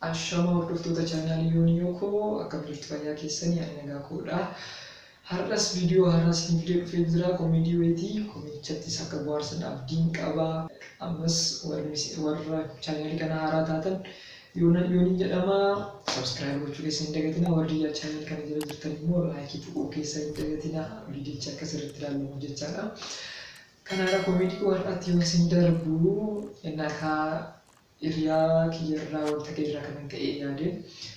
Ashama hordoftoota channel Yonyo koo akkam jirtu fayyaa keessanii ani nagaa koodha Har'as video haaraa isinii fidee dhufee jira comedy wayiiti comedychattis akka bohaarsan abdiin qaba ammas warra channel kana haaraa taatan Yonan Yonin jedhama subscribe gochuu keessan hin dagatina warri yaa channel kana jala jirtan immoo like tuquu keessan hin dagatina vidiyochi akka sirriitti ilaalamu jechaadha Kanaara comedy koo har'aatti yoon isin darbu nakaa Hiriyaa kiyya irraa wanta gari irraa kanan ka'ee yaade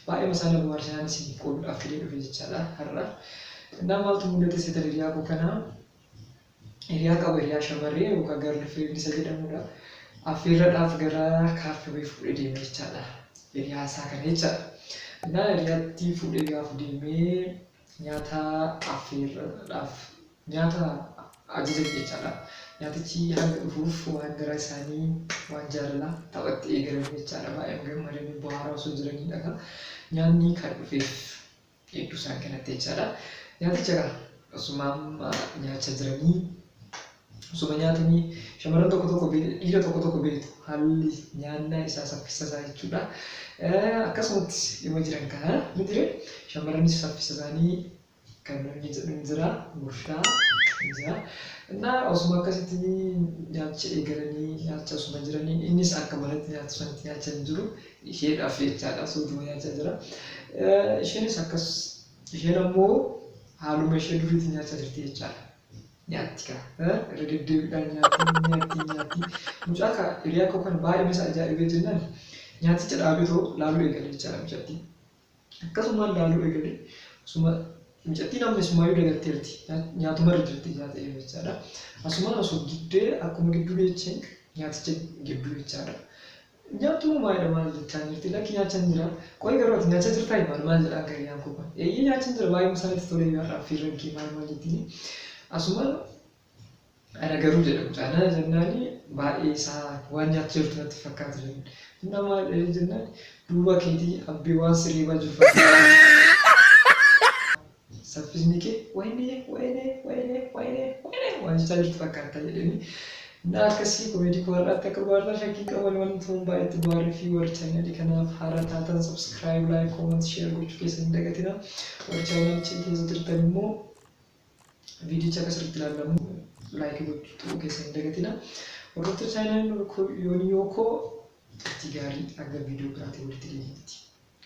baay'eema isaa na bohaarse naan isiniif qoodudhaaf fidee dhufe jechaadha har'a. Innaa maaltu mul'ate seetan hiriyaa koo kanaa hiriyaa qaba hiriyaa shamaree yookaan girl friend isa jedhamudha. Affeerradhaaf gara kaaffee wayii fuudhee deeme jechaadha hiriyaa isaa kana jechaadha. Innaa hiriyaatti fuudhee gaafa deemee Nyaata affeerraadhaaf. Nyaata ajajamu jechaadha. Nyaatichi hanga dhufuuf waan garaa isaanii waan jaalalaa taphatti eegalan jechaadha. Baay'een gammadanii bohaaraa osoo jiranii dhaga nyaanni kan dhufeef hedduu isaan qanatte jechaadha. Nyaaticha egaa osumaam nyaachaa jiranii Osoma nyaatanii shamarran tokko tokko beektu, dhiira tokko tokko beektu haalli nyaannaa isaa saffisa isaa jechuudha. Akkasumatti dhimma jiran kana hin jire shamarranis saffisa isaanii kan inni jedhu hin jira gurshaa hin jira. Innaa osuma akkasitti nyaacha eegalanii nyaacha osuma jiranii innis akka manatti nyaatu sanatti nyaacha hin jiru isheedhaaf jechaadha suutuma nyaachaa jira. Isheenis akkas isheen ammoo haaluma ishee duriitti nyaachaa jirti jechaadha. nyaatti kaa irra deddeebiidhaan nyaatti hin nyaatti hin nyaatti mucaa kaa hiriyaa koo kana baay'een isa ajaa'ibee jennaan nyaaticha dhaabee too laaluu eegale jechaadha mucattii akkasumaan laaluu eegale osuma mucattiin amma isumaayyuu dagatteerti nyaatumarra jirti nyaata eega jechaadha asumaan osoo giddee akkuma gidduu geecheen nyaaticha gidduu jechaadha Nyaattu moo maali maal jechaa jirti lakki nyaachan jira qoyi garuu ati nyaachaa jirtaa hin maal maal jedha akka hiriyaan koo kun eeyyee nyaachan jira baay'ee musaa natti tolee yaadha affiirran kee maal maal jettini asumaan ana garuu jedha mucaa nana jennaani baay'ee isaa waan nyaachaa jirtu natti fakkaata jedhu humna maal jedhee jennaan duuba keetii abbee waan sireebaa jiru fakkaata saffisni kee wayinee wayinee wayinee wayinee wayinee waan jechaa jirtu fakkaata jedhanii na akkasii komeedii koo har'aatti akka bohaartan shakkii hin qabu walumaan tuun baay'eetti bohaarree fi warri chaayinalii kanaaf haaraa taatan subscribe like comment share gochuu keessan hin dagatina warri chaayinaalicha keessa jirtan immoo viidicha akka sirriitti ilaallamu like gochuu tuquu keessan hin dagatina hordoftoota chaayinaalii yoonii yoo koo turtii gaarii hanga viidiyoo biraatiin walitti deebiitti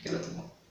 galatoomaa.